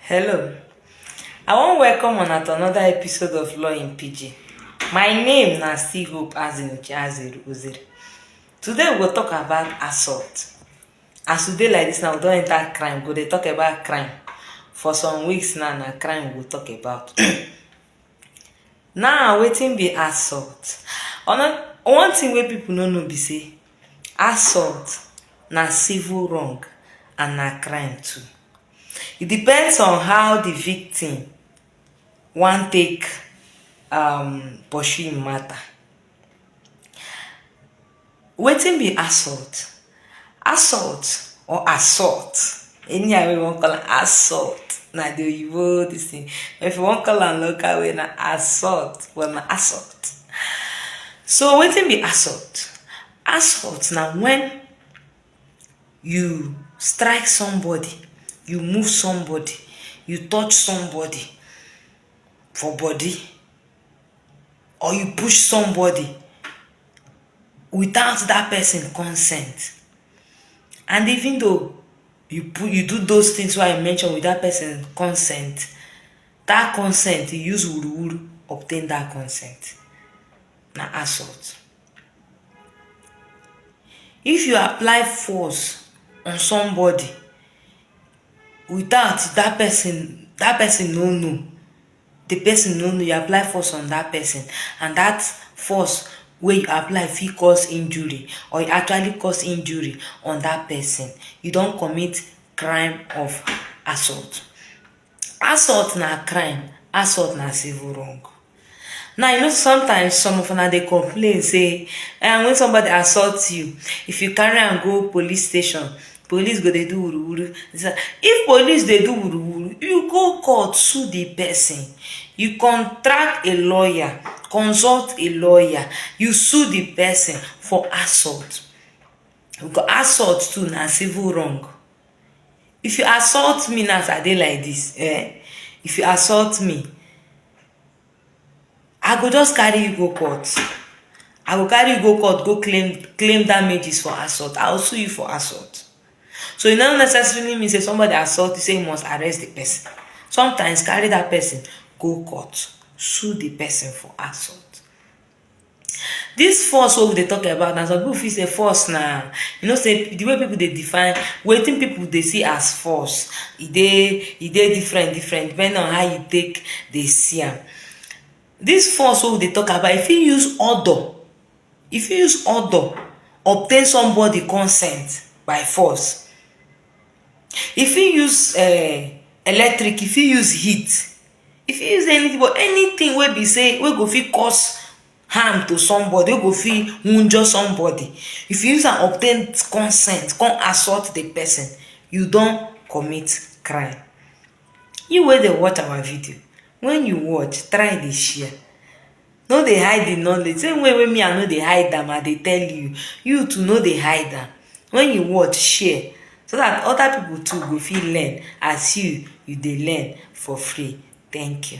Hello. I wan welcome una to another episode of Law in Pidgin. My name na still Hope Azinuche Aziri Uziri. Today we go talk about assault. As we dey like this now, we don enter crime, we go dey talk about crime. For some weeks now, na crime we go talk about. now, wetin be assault? Ono- One thing wey people no know be say assault na civil wrong and na crime too. E depends on how di victim wan take um pursue im matter. Wetin be assault? Assault or assault anyhow wey you wan call am assault na di oyibo dis thing but if you wan call am local way na assault but na assault. So wetin be assault? Assault na when you strike somebody you move somebody you touch somebody for body or you push somebody without that person consent and even though you put you do those things wey i mention with that person consent that consent you use wuruwuru obtain that consent na assault If you apply force on somebody without that person that person no know, the person no know you apply force on that person and that force wey you apply fit cause injury or you actually cause injury on that person, you don commit crime of assault. Assault na crime, assault na civil wrong. Now you know sey sometimes some of una dey complain sey um wen somebody assault you, if you carry am go police station, police go dey do wuru wuru dis one. If police dey do wuru wuru, you go court sue de person, you contract a lawyer, consult a lawyer, you sue de person for assault. Assault too na civil wrong. If you assault me now as I dey like dis um, if you assault me, I go just carry you go court, I go carry you go court go claim claim damages for assault, I go sue you for assault. So e no necessarily mean sey somebody assault you sey you must arrest de person, sometimes carry dat person go court, sue de person for assault. Dis force wey we dey talk about now, some people fit say force na, you know sey di way people dey define, wetin people dey see as force, e dey e dey different different depending on how you take dey see am. Dis force wey we dey talk about, you fit use odour, you fit use odour obtain somebody consent by force. You fit use um electric, you fit use heat. You fit use anything but anything wey be sey wey go fit cause harm to somebody, wey go fit wunjure somebody. If you use am obtain consent con assault the person, you don commit crime. You wey dey watch our video, when you watch, try dey share. No dey hide the knowledge, same way wey me I no dey hide am I dey tell you, you too no dey hide am, when you watch share so that other people too go fit learn as you you dey learn for free, thank you.